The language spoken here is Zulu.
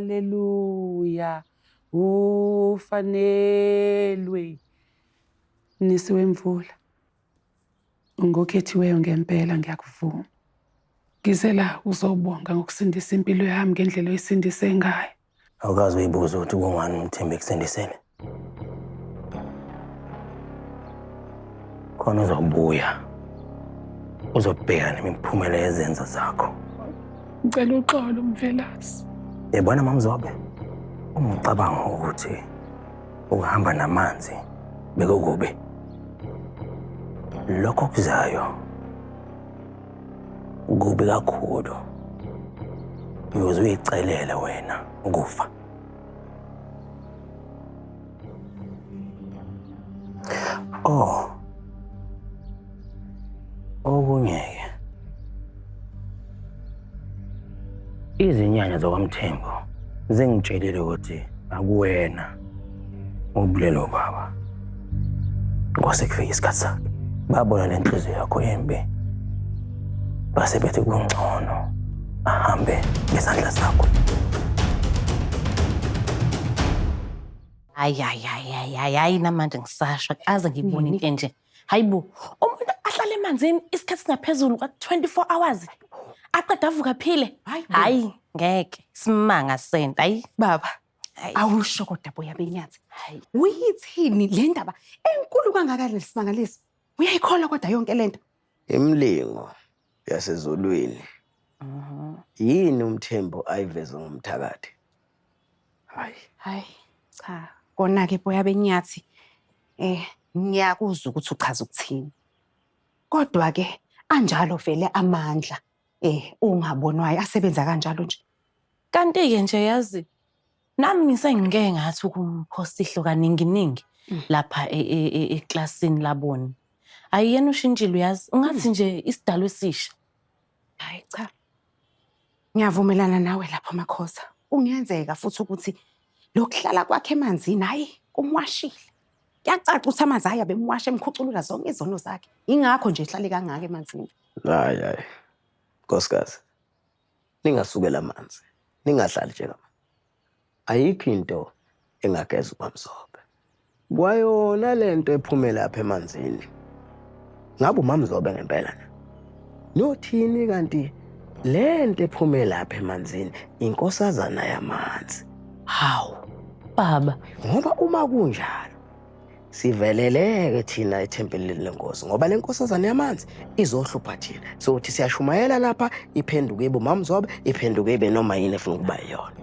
Haleluya. Ufanelwe. Mnisi wemvula. Ungokhethiweyo ngempela ngiyakuvuma. Ngizela uzobonga ngokusindisa impilo yami ngendlela oyisindise ngayo. Awukazi uyibuza ukuthi kungani umthemba ekusindisele. Khona uzobuya. Uzobheka nemiphumela yezenzo zakho. Ngicela uxolo Mvelasi. Yebona mamzobe. Ungicabanga ukuthi ukuhamba namanzi bekukubi. Lokho kuzayo Kubi kakhulu. Uyoze uyicelele wena ukufa. Oh. Okungeke. Izinyanya zokwamthembo zingitshelile ukuthi akuwena Ubulelo baba. Kwase kufika isikhathi sakhe. Babona le nhliziyo yakho embi. Base bethi kungcono ahambe ngezandla zakho. Hayi hayi hayi hayi hayi hayi namanje ngisasha aze ngibone into enje. Hayibo umuntu ahlale emanzini isikhathi singaphezulu kwa 24 hours. Aqeda avuka phile. Hayi ngeke simanga senta. Hayi Baba, awusho kodwa boya benyathi uyithini le ndaba enkulu kangaka lesimangalisi uyayikholwa kodwa yonke le nto imilingo yasezulwini mhm. yini umthembo ayiveze ngomthakathi hayi hayi cha kona-ke boya benyathi um ngiyakuzwa ukuthi uchaza ukuthini kodwa-ke anjalo vele amandla Eh, ungabonwayo asebenza kanjalo nje. Kanti-ke nje yazi nami ngisengike ngathi ukumphosta ihlo kaninginingi mm. lapha e- e- e- eklasini labona. Hayi yena ushintshile uyazi ungathi mm. nje isidalo esisha. Hayi cha. Ngiyavumelana nawe lapho Makhoza. Kungenzeka futhi ukuthi lokuhlala kwakhe emanzini hayi kumwashile. kuyacaca ukuthi amanzi ayo abemwasha emkhuculula zonke izono zakhe yingakho nje ehlale kangaka emanzini hayi hayi nkosikazi ningasukela amanzi ningadlali njengama ayikho into engageza ubamzobe kwayona lento ephumela apha emanzini ngabe umamzobe ngempela na nothini kanti le nto ephume lapha emanzini inkosazana yamanzi hawu baba ngoba uma kunjalo siveleleke thina ethempelini lenkosi ngoba le nkosazane yamanzi izohlupha thina sokuthi siyashumayela lapha iphenduke ibe umamzobe iphenduke ibe noma yini efuna ukuba yiyona